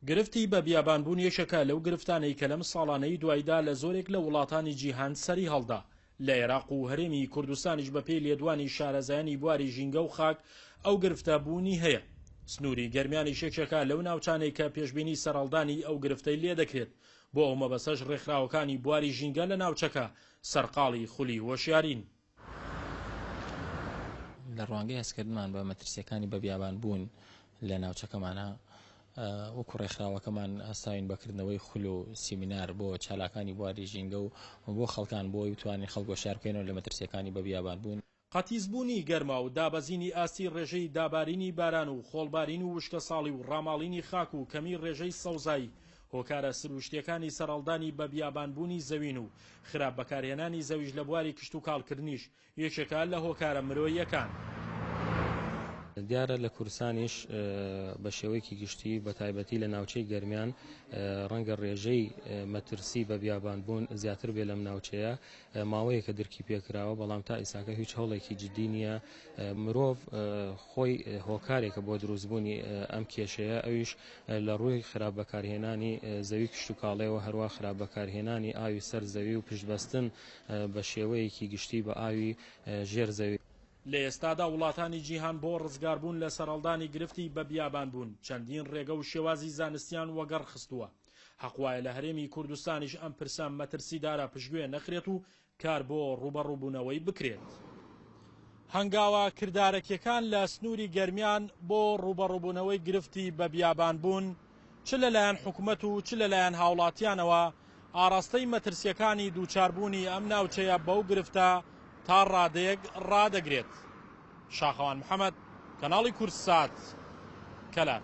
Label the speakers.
Speaker 1: گرفتی بە بیابان بوون یەکێکە لەو گرفتانەی کە لەم ساڵانەی دوایدا لە زۆرێک لە وڵاتانی جیهان سەری هەڵدا لە عێراق و هەرێمی کوردستانیش بە پێی لێدوانی شارەزایانی بواری ژینگە و خاک ئەو گرفتە بوونی هەیە سنووری گەرمیانی شێکێکە لەو ناوچانەی کە پێشببینی سەرهەڵدانی ئەو گرفتەی لێ دەکرێت بۆ ئەو مەبەسەش ڕێکخراوەکانی بواری ژینگە لە ناوچەکە سەرقاڵی خولی هۆشیارین
Speaker 2: لە ڕوانگەی هەستکردنمان بە مەترسیەکانی بە بیابان بوون لە ناوچەکەمانە وەکو ڕێکخراوەکەمان هەستاوین بەکردنەوەی خول و سیمینار بۆ چالاکانی بواری ژینگە و بۆ خەڵکان بۆی بتوانین خەڵک وەشیار بکەینەوە لە مەترسیەکانی بە بیابان بوون. قەتیسبوونی گەرما
Speaker 1: و دابەزینی ئاستی ڕێژەی دابارینی باران و خۆڵبارین و وشکەساڵی و ڕاماڵینی خاک و کەمی ڕێژەی سەوزایی هۆکارە سروشتیەکانی سەرەڵدانی بە بیابان بوونی زەوین و خراپ بەکارهێنانی زەویش لە بواری کشتوکاڵ کردنیش یەکێکە لە هۆکارە مرۆییەکان.
Speaker 3: دیارە لە کوردستانیش بە شێوەیەکی گشتی بە تایبەتی لە ناوچەی گەرمیان ڕەنگە ڕێژەی مەترسی بە بیابان بوون زیاتر بێ لەم ناوچەیە ماوەیەکە درکی پێ کراوە بەڵام تا ئیستاکە هیچ هەوڵێکی جدی نیە مرۆڤ خۆی هۆکارێکە بۆ دروست بوونی ئەم کێشەیە ئەویش لە ڕووی خراپ بەکارهێنانی زەوی کشتوکاڵیەوە هەروا خراپ بەکارهێنانی ئاوی سەر زەوی و پشتبەستن بە شێوەیەکی گشتی بە ئاوی ژێر زەوی. لە ئێستادا
Speaker 1: وڵاتانی جیهان بۆ ڕزگاربوون لە سەرهەڵدانی گرفتی بە بیابانبوون چەندین ڕێگە و شێوازی زانستیان وەگەڕ خستووە، حەق وایە لە هەرێمی کوردستانیش ئەم پرسە مەترسیدارە پشتگوێ نەخرێت و کار بۆ ڕووبەڕووبوونەوەی بکرێت. هەنگاوە کردارەکیەکان لە سنووری گەرمیان بۆ ڕووبەڕووبوونەوەی گرفتی بە بیابانبوون چ لەلایەن حکومەت و چ لەلایەن هاوڵاتیانەوە ئاڕاستەی مەترسیەکانی دووچاربوونی ئەم ناوچەیە بەو گرفتە تا ڕادەیەک ڕادەگرێت. شاخەوان محەمەد، کەناڵی کوردسات، کەلار.